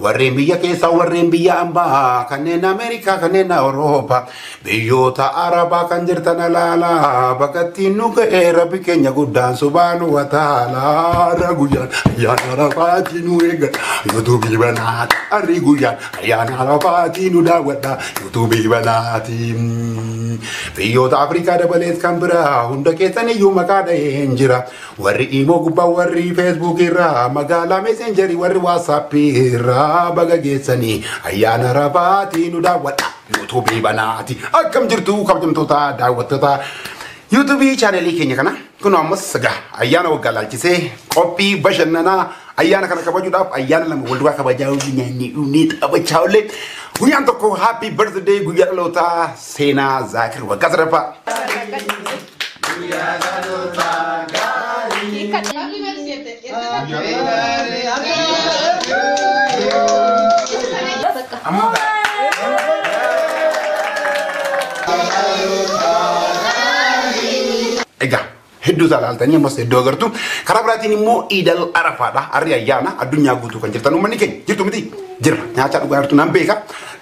Warreen biyya keessaa warreen biyya ambaa kanneen Ameerikaa kanneen Awurooppaa biyyoota Arabaa kan jirtan alaalaa bakka ittiin nu ga'e rabbi keenya guddaan subaanu wataalaa ra guyyaan ayyaana rafaatii nu eega yuutuubii banaati arri guyyaan ayyaana rafaatii nu daawwadha yuutuubii banaati biyyoota Afrikaa dabalees kan biraa hunda keessaniyyuu maqaa dhaheen jira Warri imoo gubbaa warri feesbuukii irraa magaalaa meeseenjarii warri waatsaappii irraa baga geessanii ayyaana rafaatii nu daawwadha yuutuubii banaati akkam jirtu kabajamtoota daawwattoota yuutuubii chaanelii keenya kana kun ammas egaa ayyaana waggaa laalchisee qophii bashannanaa ayyaana kana kabajuudhaaf ayyaana lama wal duraa kabajaa hojii nyaanni dhuunee taphachaa ollee guyyaan tokko happy birthday guyyaa dhalootaa seenaa zaakir waggaa sadaffaa. Egaa hedduu isaa ilaaltanii ammas hedduu agartu. Karaa biraatiin immoo iidal arafaadha. Harri ayyaana addunyaa guutuu kan jirtan uummanni keenya jirtu miti jira. Nyaataa dhugaa jirtu nan beeka.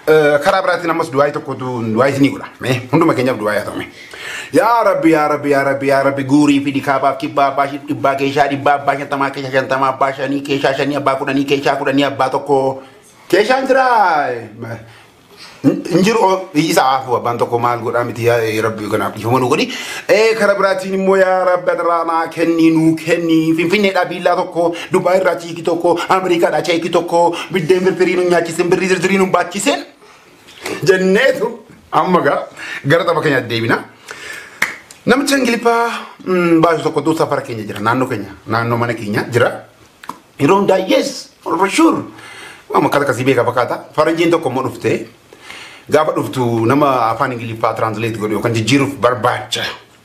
Eh, Karaa biraatiin ammas du'aayii tokkotu du'aayii isinii godha. Mee hunduma keenyaaf du'aayii haa ta'u. mee. Yaa rabbi yaa rabbi yaa rabbi yaa rabbi guurii fi dikaabaaf kibbaa abbaa shib dhibbaa keeshaa dhibbaa abbaa shantamaa keeshaa shantamaa abbaa shanii keeshaa shanii abbaa kudhanii keeshaa kudhanii abbaa tokko keeshaan jiraa hin jiru isa aafuu abbaan tokko maal godhaa miti yaa ee, rabbi kanaaf dhiifama nu godhi ee kara biraatiin immoo yaa rabbi adaraa naa kenni nuu kenni finfinneedhaa biillaa tokko dubaa irraa chiiki tokko ameerikaadhaa cheeki tokko biddeen firfirii nu nyaachisin birrii zirzirii nu baachisen jenneetu amma gaa gara tapha keenyaatti deebina. Namicha Ingiliffaa baay'ee tokko tuu safara keenya jira naannoo keenya naannoo mana keenya jira. Yeroo hundaa yes for sure. Amma akkata akkasii beekaa fakkaata. Faranjiin tokko immoo dhufte gaafa dhuftu nama afaan Ingiliffaa translate godhu yookaan jijjiiruuf barbaacha.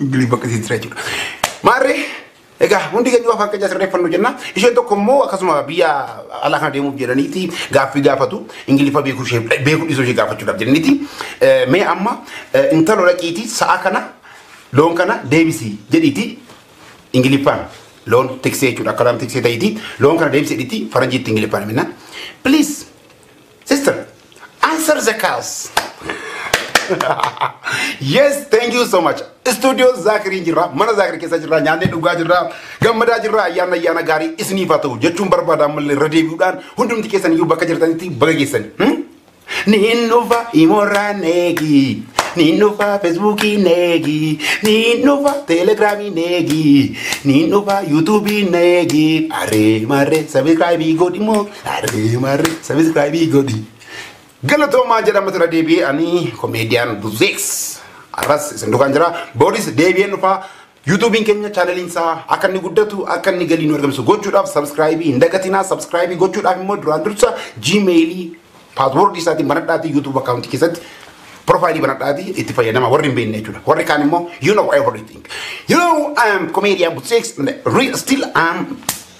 Ingiliz bakka isin jira jechuudha. Maarree egaa hundi keenya waan fakkeenya sirreeffannu jenna. Isheen tokko immoo akkasuma biyya alaa kana deemuuf jedhaniiti gaaffii gaafatu. Ingiliffa beekuu ishee beekuu dhiisuu ishee gaafachuudhaaf jedhaniiti. Mee amma intalo dhaqiiti sa'a kana loon kana deebisi jedhiiti Ingiliffaan loon tiksee jechuudha. Akkaataan tiksee ta'iiti loon kana deebisi jedhiiti faranjiitti Ingiliffaan minna. Please Sister, answer the cows. yes, thank you so much. Studio Zakiri jirra, mana Zakiri keessa jirra, nyaannee dhugaa jirra, gammadaa jirra, ayyaana ayyaana gaarii isiniif haa ta'u jechuun barbaada ammallee irra deebi'uudhaan hundumti keessan iyyuu bakka jirtanitti baga geessan. Hmm? Niin dhufa imorraa neegi. Niin dhufa feesbuukii neegi. Niin dhufa teelegiraamii neegi. Niin dhufa yuutuubii neegi. Aree marree sabiskiraayibii godhimoo. Aree maarri sabiskiraayibii godhi. Galatoomaa jedhama irra deebi'ee ani komeediyaan Buzeeks. Arras isin dukaan jira. Booris deebi'een dhufaa. Yuutuubiin keenya chaanaliin isaa akka inni guddatu akka inni galii nu argamsiisu gochuudhaaf sabskraayibii hin dagatinaa. Sabskraayibii gochuudhaaf immoo duraan dursa jiimeelii paaswoordii isaatiin banadhaatii yuutuub akkaawuntii keessatti profaayilii banadhaatii itti fayyadama warri hin beekne jechuudha. Warri kaan immoo you know everything. You know I am comedian Buzeeks and real still I am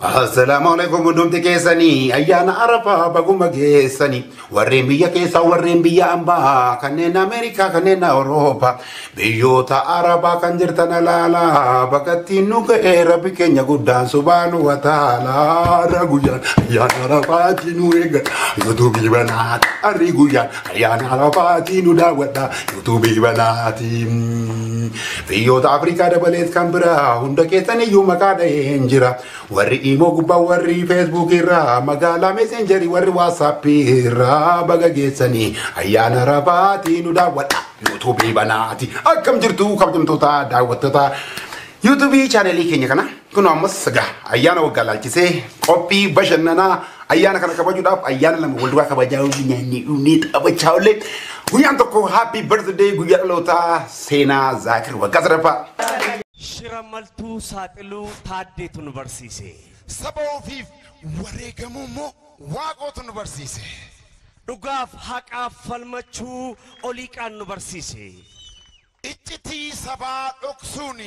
Assalaamu alaikum hundumti keessanii ayyaana arafaa baguma geessanii warreen biyya keessaa warreen biyya ambaa kanneen ameerikaa kanneen awurooppaa biyyoota arabaa kan jirtan alaalaa bakka ittiin nu ga'e rabbi keenya guddaan subaanu wataalaa guyyaan ayyaana arafaati nu eeggan yuutuubii banaa arri guyyaan Ayyaana Arafaatii nu daawwadha yuutuubii banaatiin. Biyyoota Afrikaa dabalees kan biraa hunda keessan iyyuu maqaa dhaheen jira. Warri imoo gubbaa warri feesbuuk irraa magaalaa meseenjarii warri waatsaappii irraa baga geessanii ayyaana Arafaatii nu daawwadha yuutuubii banaati. Akkam jirtu kabajamtoota daawwattoota yuutuubii chaanelii keenya kana. Kun ammas egaa ayyaana waggaa ilaalchisee qophii bashannanaa ayyaana kana kabajuudhaaf ayyaana lama wal duraa kabajaa hojii nyaannee dhuunee taphachaa ollee guyyaan tokko happy birthday guyyaa dhalootaa seenaa zaakir waggaa sadaffaa. Shira maltuu saaxiluu taaddeetu nu barsiise. Saba ofiif wareegamuu immoo waaqootu nu barsiise. Dhugaaf haqaaf falmachuu oliiqaan nu barsiise. Iccitii sabaa dhoksuun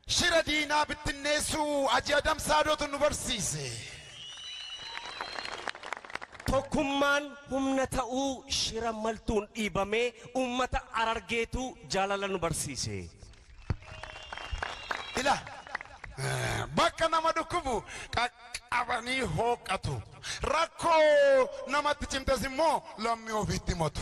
shira diinaa bittinneessuu Haji Adam Saadootu nu barsiise. Tokkummaan humna ta'uu shira maltuun dhiibamee uummata Harargeetu jaalala nu barsiise. Ila bakka nama dhukkubu qaqqabanii hooqqatu. Rakkoo namatti cimtes immoo lammii ofiitti himatu.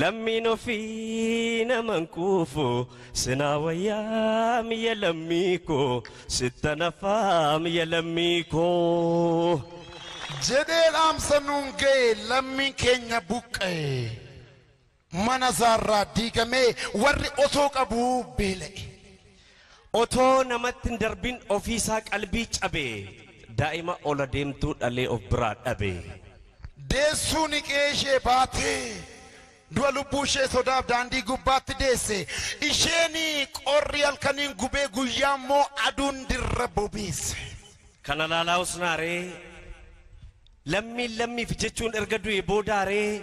Lammiin ofii naman quufu sinaa wayyaam ya lammii koo sittan hafaam ya lammii koo. Jedhee dhaamsa nuun ga'e lammiin keenya buqqa'e mana isaarraa diigamee warri osoo qabuu beela'e. Otoo namatti hin darbin ofiisaa qalbii cabe Daa'ima ol adeemtuu dhalee of biraa dhabe. Deessuuni qe'ee ishee baate Du'a lubbuu ishee sodaaf daandii gubbaatti deesse Isheen qorri halkaniin gubee guyyaa immoo aduun dirra bobeesse. Kana laalaa husnaa ree? Lammiin lammiif jechuun erga du'ee boodaa ree?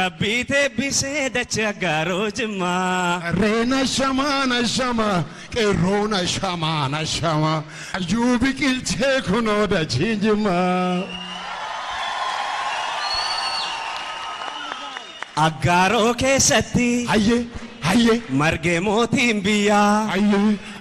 Rabbii teebbisee dacha gaaroo jimmaa. Qarreen ashamaa nashama qeerroon ashamaa nashama hayyuu biqilchee kunoo dachiin jimmaa. Aggaaroo keessatti. Hayyee hayyee. Margee mootiin biyyaa. Hayyee.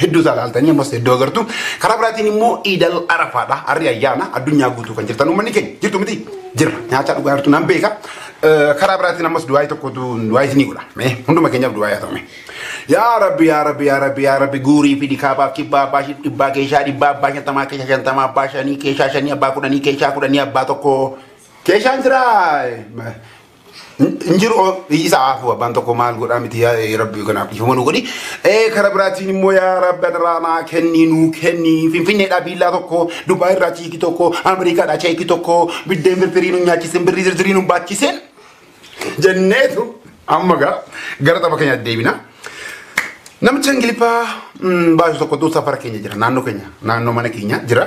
hedduu isaa ilaaltanii ammas hedduu agartu. Karaa biraatiin immoo Iidal Arafaadha. Harri ayyaana addunyaa guutuu kan jirtan uummanni keenya jirtu miti jirra. Nyaataa dhugaa jirtu nan beeka. Karaa biraatiin ammas du'aayii tokkotu du'aayii isinii godha. Mee hunduma keenyaaf du'aayii haa ta'u. Yaa Rabbi yaa Rabbi yaa Rabbi yaa Rabbi guurii fi dikaabaaf kibbaa abbaa shif dhibbaa keeshaa dhibbaa abbaa shantamaa keeshaa shantamaa abbaa shanii keeshaa shanii abbaa kudhanii keeshaa kudhanii abbaa tokkoo keeshaan jiraa. hin jiru isa haafuu abbaan tokko maal godhaa miti yaa ee, rabbi kanaaf dhiifama nu godhi ee kara biraatiin immoo yaa rabbi adaraa naa kenni nuu kenni finfinneedhaa biillaa tokko dubaa irraa chiikii tokko ameerikaadhaa cheekii tokko biddeen firfirii nu nyaachisen birrii zirzirii nu baachisen jenneetu amma gaa gara tapha keenya deebina. Namicha Ingiliffaa baay'ee tokkotu safara keenya jira naannoo keenya naannoo mana keenya jira.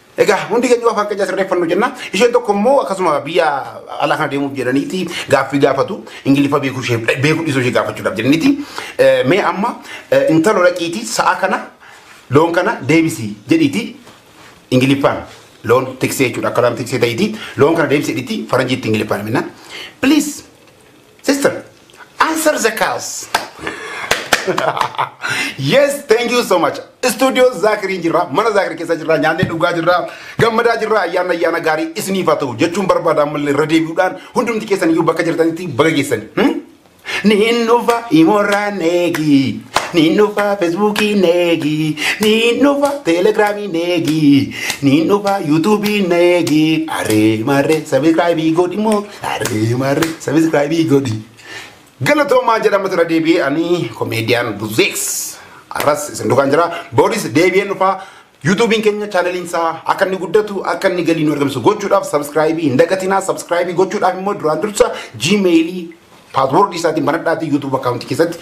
Egaa hundi keenya waan fakkaachaa sirreeffannu jenna. Isheen tokko immoo akkasuma biyya alaa kana deemuuf jedhaniiti gaaffii gaafatu. Ingiliffa beekuu ishee beekuu dhiisuu ishee gaafachuudhaaf jedhaniiti. Eh, Mee amma eh, intalo dhaqiiti sa'a kana loon kana deebisi jedhiiti Ingiliffaan loon tiksee jechuudha. Akka loon tiksee ta'iiti loon kana deebisi jedhiiti faranjiitti Ingiliffaan minna. Please Sister, answer the calls. yes, thank you so much. Studio Zaakiriin jirra, mana Zaakir keessa jirra, nyaannee dhugaa jirra, gammadaa jirra, ayyaana ayyaana gaarii isiniif haa ta'u jechuun barbaada ammallee irra deebi'uudhaan hundumti keessan iyyuu bakka jirtanitti baga geessani. Hmm? Niin dhufa imorraa neegi. Niin dhufa feesbuukii neegi. Niin dhufa teelegiraamii neegi. Niin dhufa yuutuubii neegi. Aree marree sabiskiraayibii godhimoo. Aree maarre sabiskiraayibii godhi. Galatoomaa jedhama irra deebi'ee ani komeediyaan buzeeks. Arras isin dukaan jira. Booris deebi'een dhufaa. Yuutuubiin keenya chaanaliin isaa akka inni guddatu akka inni galii nu argamsiisu gochuudhaaf sabskiraayibii hin dagatinaa. Sabskiraayibii gochuudhaaf immoo duraan dursa jiimeelii paaswoordii isaatiin banadhaatii yuutuub akkaawuntii keessatti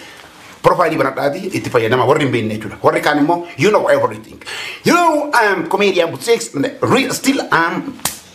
profaayilii banadhaatii itti fayyadama warri hin beekne jechuudha. Warri kaan immoo you know everything. You know I am comedian Buzeeks and real still I am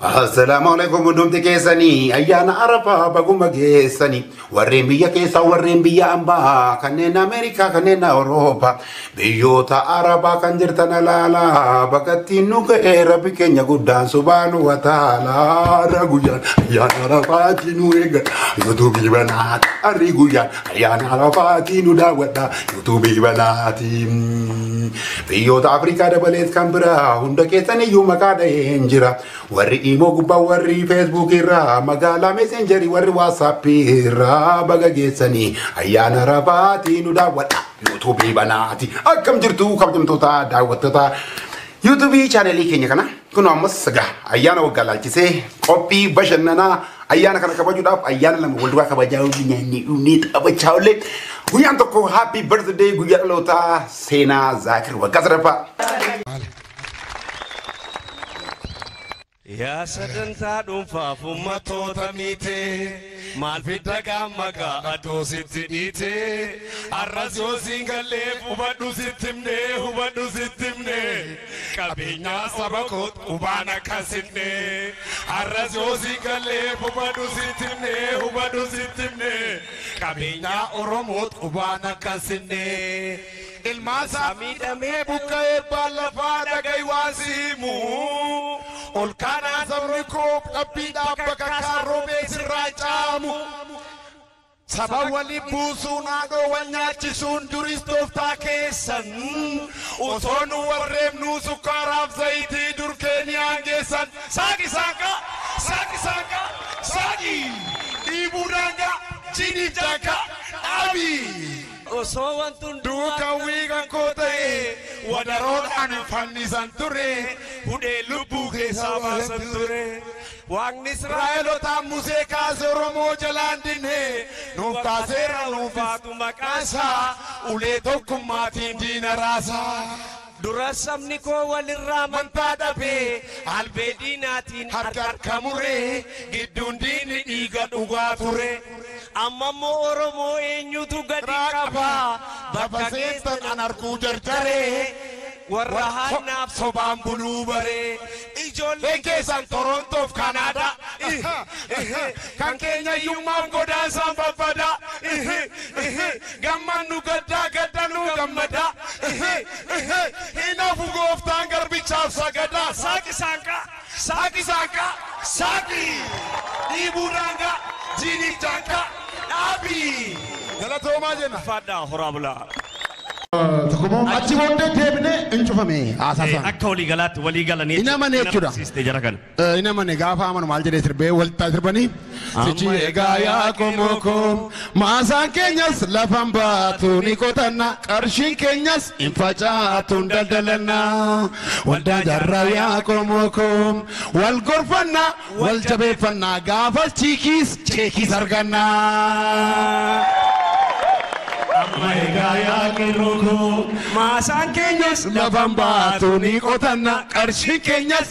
Assalaamu alaikum hundumti keessanii ayyaana arafaa baguma geessanii warreen biyya keessaa warreen biyya ambaa kanneen ameerikaa kanneen awurooppaa biyyoota arabaa kan jirtan alaalaa bakkattiin nu ga'e rabbi keenya guddaan subaanu wataalaa guyyaan ayyaana arafaati nu eeggan youtube banaa arri guyyaan Ayyaana Arafaatii nu daawwadha yuutuubii banaatiin. Biyyoota Afrikaa dabalees kan biraa hunda keessan iyyuu maqaa dhaheen jira. Warri imoo gubbaa warri feesbuuk irraa magaalaa meseenjarii warri waatsaappii irraa baga geessanii ayyaana Arafaatii nu daawwadha yuutuubii banaati. Akkam jirtu kabajamtoota daawwattoota yuutuubii chaanalii keenya kana. Kun ammas egaa ayyaana waggaa ilaalchisee qophii bashannanaa ayyaana kana kabajuudhaaf ayyaana lama wal duraa kabajaa yoo nyaannee dhugnee taphachaa ollee guyyaan tokko happy birthday guyyaa dhalootaa seenaa zaakir waggaa sadaffaa. Yaa sagantaa dhuunfaaf ummatoota miite. Maal fidda gaamma gaa atoo sitti dhiite arras yoo siin gallee hubadhu sitti himne hubadhu sitti himne qabeenyaa saba koot hubaan akka sinne arras yoo siin gallee hubadhu sitti himne hubadhu sitti himne qabeenyaa oromoot hubaan akka sinne Ilmaansaa miidhamee buqqa'ee abbaan lafaa dhaga'i waan si himu. Ol kaanaa sabni koo dhabbiidhaa bakka kaan roobee sirraa caamu. Saba wali buusuun haadhoo wal nyaachisuun duris tooftaa keessan. Osoo nu warreebnuu sukkaaraaf zayitii durkee ni aangeessan. Saaqi saaqa! Saaqi saaqa! Saaqi! Dhiibuu daangaa! Jiiniif daangaa! Dhaabi! Osoo wanti hunduu akka hawwii kan koo ta'e wadaroon ani fannisan ture hudhee lubbuu keessaa baasan ture waaqni israa'elotaan musee kaase oromoo jalaan dinne nuuf kaaseera nuuf baatu maqaasaa ulee tokkummaatiin diina raasaa. Duras sabni koo walirraa amantaa dhabee albee diinaatiin harka harka muree gidduun diinni dhiiga dhugaa ture amma immoo oromoo eenyutu gadi qaba bakka geessan an arguu jarjaree warra hannaaf sobaan buluu baree ijoolleen keessan torontoof kanaadaa kan keenya iyyummaaf godaansaan babbada Gammannu gaddaa gadda nuu gammadaa ihi ihi hin hafu gooftaan garbichaaf sagadaa saaqi saanqaa saaqi saanqaa saaqi dhiibuu daangaa jiiniif jaankaa dhaabi galatoomaa jenna. Ulfaadhaa horaa bulaa. Tokko moo achi booddee deebinee hin cufame haasaa isaanii. Akka walii galaatti walii galanii Hin amane jechuudha. amansiiste jara kana. Hin amane gaafa amanu maal jedhee sirbee waltaa sirbanii sichi Amma egaa yaa qomoo koo maasaan keenyas lafan baatu ni qotanna qarshiin keenyas hin facaatu hin daldalanna waldaa jarraa yaa qomoo koo wal gorfanna wal jabeeffanna gaafas chiikiis cheekiis arganna. Amma egaa yaa qeerroo koo maasaan keenyas lafan baatu ni qotanna qarshiin keenyas